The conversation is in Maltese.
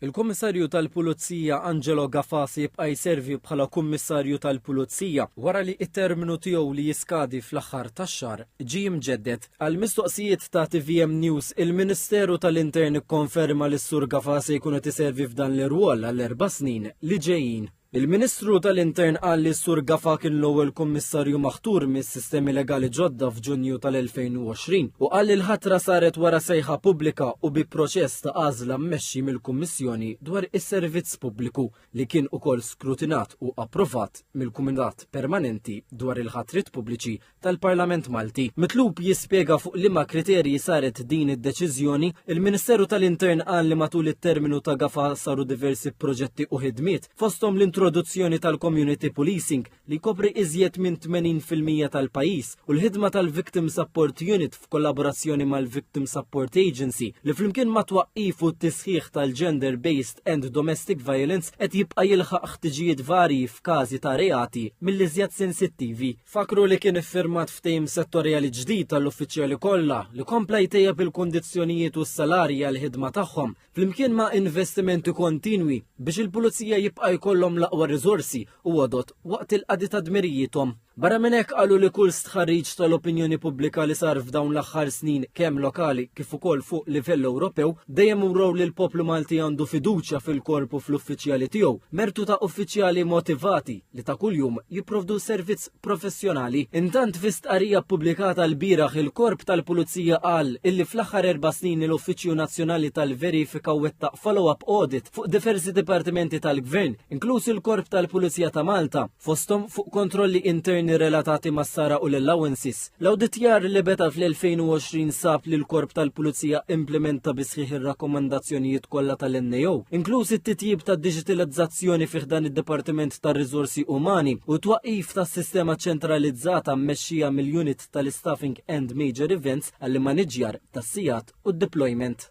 Il-Kummissarju tal-Pulizija Angelo Gafasi jibqa' jservi bħala Kummissarju tal-Pulizija wara li t-terminu tiegħu li jiskadi fl-aħħar tax-xahar ġie mġedded. Għal mistoqsijiet ta' tvm News, il-Ministeru tal-Intern ikkonferma li s-Sur Gafasi jkun qed iservi f'dan l-irwol għal erba' snin li ġejjin. Il-Ministru tal-Intern qal li s-Sur Gafa kien l-ewwel Kummissarju maħtur mis-sistemi legali ġodda f'Ġunju tal-2020 u qal li l-ħatra saret wara sejħa pubblika u bi proċess ta' għażla mmexxi mill-Kummissjoni dwar is-Servizz Pubbliku li kien ukoll skrutinat u approvat mill-Kumitat Permanenti dwar il-Ħatriet Pubbliċi tal-Parlament Malti. Mitlub jispjega fuq liema kriterji saret din id-deċiżjoni, il-Ministeru tal-Intern qal li matul it-terminu ta' gafa saru diversi proġetti u ħidmiet, fosthom l-introduzzjoni tal-community policing li jkopri iżjed minn 80% tal-pajjiż u l-ħidma tal-Victim Support Unit f'kollaborazzjoni mal-Victim Support Agency li flimkien ma' twaqqif u t-tisħiħ tal-gender based and domestic violence qed jibqa' jilħaq ħtiġijiet varji f'każi ta' reati mill-iżjed sensittivi Fakkru li kien iffirmat ftehim settorjali ġdid għall-uffiċjali kollha li kompla jtejjeb il-kundizzjonijiet u s-salarji għall-ħidma tagħhom, flimkien ma' investimenti kontinwi biex il-Pulizija jibqa' jkollhom l-aqwa riżorsi u għodod waqt il-qadi ta' dmirijiethom. Barra minn hekk qalu li kull stħarriġ tal-opinjoni pubblika li sar f'dawn l-aħħar snin kemm lokali kif ukoll fuq livell Ewropew dejjem urew li l-poplu Malti għandu fiduċja fil-korp u fl-uffiċjali tiegħu, mertu ta' uffiċjali motivati, li ta' kuljum jipprovdu servizz professjonali. Intant fi stqarrija ppubblikata lbieraħ il-Korp tal-Pulizija qal illi fl-aħħar erba' snin il-Uffiċċju Nazzjonali tal-Verifika wettaq follow-up audit fuq diversi dipartimenti tal-Gvern, inkluż il-Korp tal-Pulizija ta' Malta, fosthom fuq kontrolli interni relatati mas-sara u l-allowances. L-awditjar li beda fl-2020 sab li l-Korp tal-Pulizija implimenta bi sħiħ ir-rakkomandazzjonijiet kollha tal-NAO, inkluż it-titjib tad-diġitalizzazzjoni fi ħdan id-Dipartiment tar-Riżorsi Umani u t-twaqqif ta' sistema ċentralizzata mmexxija mill-Unit tal-Istaffing and Major Events għall-immaniġġjar tas-sigħat u d-deployment.